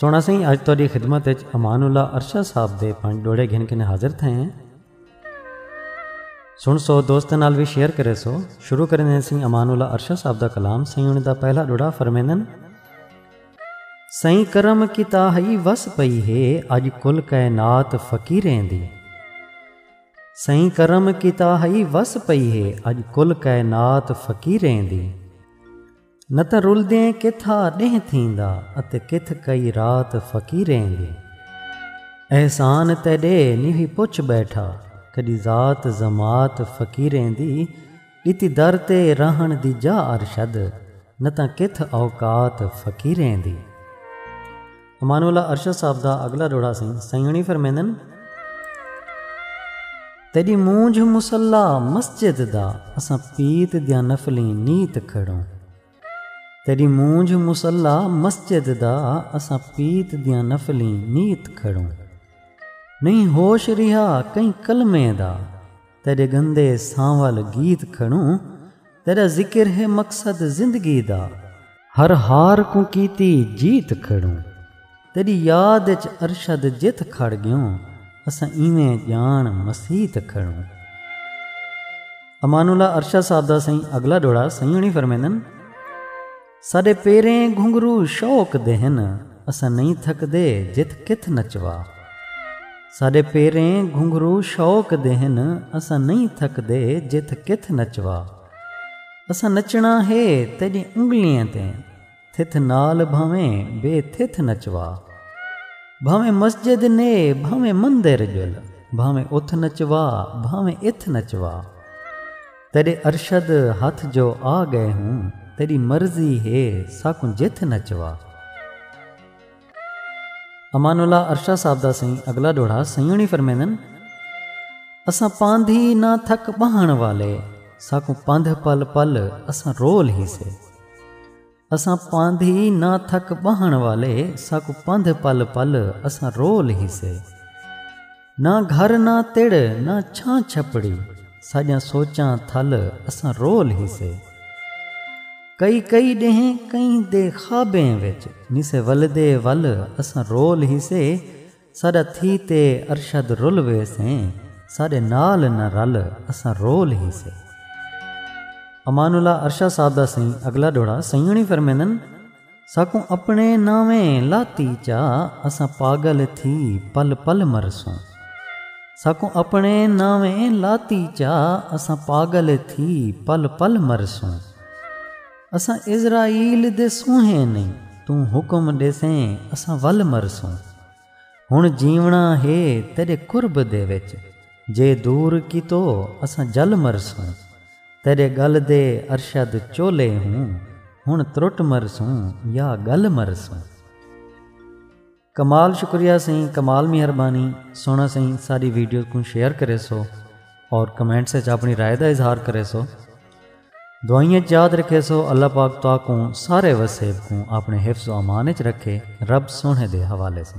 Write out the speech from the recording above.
سونا سائیں اج تہاڈی خدمت وچ امان اللہ ارشا صاحب دے پنج ڈوڑے گھن کے حاضر تھے ہیں سن سو دوست نال بھی شیئر کرے سو شروع کرنے سائیں امان اللہ ارشا صاحب دا کلام سائیں انہاں دا پہلا ڈوڑا فرمیندن سائیں کرم کیتا ہئی وس پئی ہے اج کل کائنات فقیریں دی سائیں کرم کیتا ہئی وس پئی ہے اج کل کائنات فقیریں دی نہ تاں رلدیں کتھا ݙینہہ تھیندا اتے کتھ کئی رات فقیریں دی احسان تیݙے نیوی پچھ ٻیٹھا کݙی ذات ضماعت فقیریں دی ݙتی در تے رہݨ دی جاہ ارشد نہ تاں کتھ اوقات فقیریں دی۔ امان اللہ ارشد صاحب دا اگلا ڈوڑا سائیں سائیونی فرمیندن تیری مونجھ مسلح مسجد دا اساں پیت دیا نفلیں نیت کھڑوں تیری مونجھ مسلح مسجد دا اساں پیت دیا نفلیں نیت کھڑوں نہیں ہوش رہا کئی کلمے دا تیڈے گندے سانول گیت کھڑوں تیڈا ذکر ہے مقصد زندگی دا ہر ہار کوں کیتی جیت کھڑوں تیڈی یاد اچ ارشد جت کھڑ گیوں اساں ایویں جان مسیت کھڑوں۔ امان اللہ ارشد صاحب دا سائیں اگلا ڈوڑا سائیں ہنی فرمیندن۔ ساݙے پیریں گھنگھرو شوق دے ہن اساں نئیں تھکدے جت کتھ نچوا ساݙے پیریں گھنگھرو شوق دے ہن اساں نئیں تھکدے جت کتھ نچوا اساں نچݨا ہے تیݙی انگلیں تے تھتھ نال بھانویں بے تھتھ نچوا بھانویں مسجد نے بھانویں مندر ڄل بھانویں اتھ نچوا بھانویں اتھ نچوا۔ تیݙے ارشد ہتھ جو آ ڳئے ہوں تیݙی مرضی ہے ساکوں جتھ نچوا۔ امان اللہ ارشا صاحب دا سئیں اگلا ݙوہڑا سئیں ہوݨی فرمیندن اساں پاندھی نہ تھک ٻہݨ والے ساکوں پندھ پل پل اساں رول ہیسے۔ اساں پاندھی نہ تھک ٻہݨ والے ساکوں پندھ پل پل اساں رول ہیسے نہ گھر نہ تڑ نہ چھاں چھپڑی ساݙیاں سوچاں تھل اساں رول ہیسے کئی کئی ݙینہہ کئیں دے خوابیں وچ نسے ولدے ول اساں رول ہیسے ساݙا تھی تے ارشد رل ویسیں ساݙے نال نہ رل اساں رول ہیسے۔ امان اللہ ارشد صاحب دا سئیں اگلا ݙوہڑا سئیں ہوݨی فرمیندن ساکوں اپݨے ناویں لاتی چا اساں پاگل تھی پل پل مرسوں ساکوں اپݨے ناویں لاتی چا اساں پاگل تھی پل پل مرسوں۔ اساں عزرائیل دے سونہیں نئیں توں حکم ݙیسیں اساں ول مرسوں۔ ہݨ جیوݨا ہے تیݙے قرب دے وچ جے دور کیتو اساں جل مرسوں۔ تیݙے ڳل دے ارشد چولے ہوں ہݨ ترٹ مرسوں یا ڳل مرسوں۔ کمال شکریہ سئیں کمال مہربانی سونا سئیں ساری ویڈیوز کوں شیئر کرے سو اور کمنٹس اچ اپنی رائے دا اظہار کرے سو دعائیں اچ یاد رکھے سو اللہ پاک تو کوں سارے وسیب کوں اپنے حفظ و امان اچ رکھے رب سونے دے حوالے سے